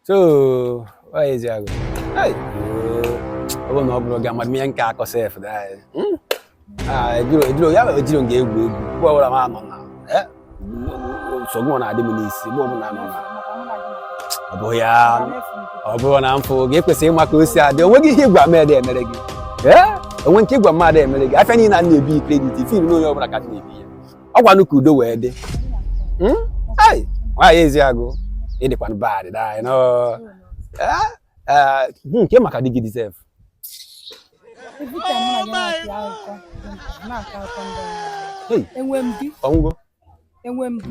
So, nwaanyị ezi agụ Hey, ọ bụrụ na ọ bụrụ gị amadị ihe m ga-akọ sef dị anyị. Hmm? Ah, ejiro ejiro ya mere ejiro ya egwu egwu mgbe ọbụla m anọ na eh? nsogbu ọ na-adị m n'isi mgbe ọbụla anọ na ọ bụ ya ọ bụrụ na mfụ gị ekwesịghị ịma ka o si adị o nweghị ihe ị gwa mmadụ emere gị Eh? o nwee nke ị gwa mmadụ emere gị afịa niile a na-ebi credit fil na onye ọbụla ka dị na-ebi ya ọ kwanụ ka udo wee dị hmm? nwaanyị ezi agụ ị dịkwanụ bad eh, eh, hmm, nke maka di gị deserve enwe m di enwe m di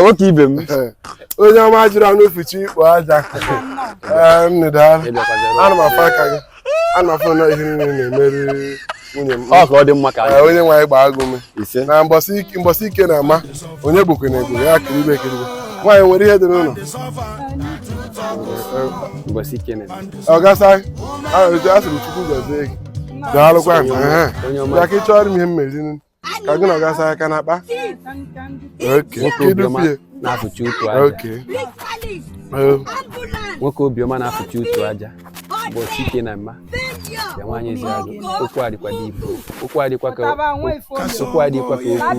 nwoke ibe m onye ọma jiri anụ fuchi ikpo aja ana m afụ aka gị ana m afụ na ihe niile na-emeri nwunye m ọ ka ọ dị mma ka onye nwe anyị gbaa gị ume na mbọsị ike na ama onye gbokwe na egbo ya kiribe ekiribe nwaanyị nwere ihe dị n'ụlọ mbọsị ike na oga sir asịrị m chukwu gọzie gị daalụkwa ya ka ị chọrọ m ihe mmeri ka gị na oga sir aka na akpa na-afụchi utu aja nwoke obiọma na-afụchi utu aja bụ chike na mma ya nwaanyị ezi agụ okwu adịkwa dị ibu okwu adịkwa ka okwu adịkwa ka okwu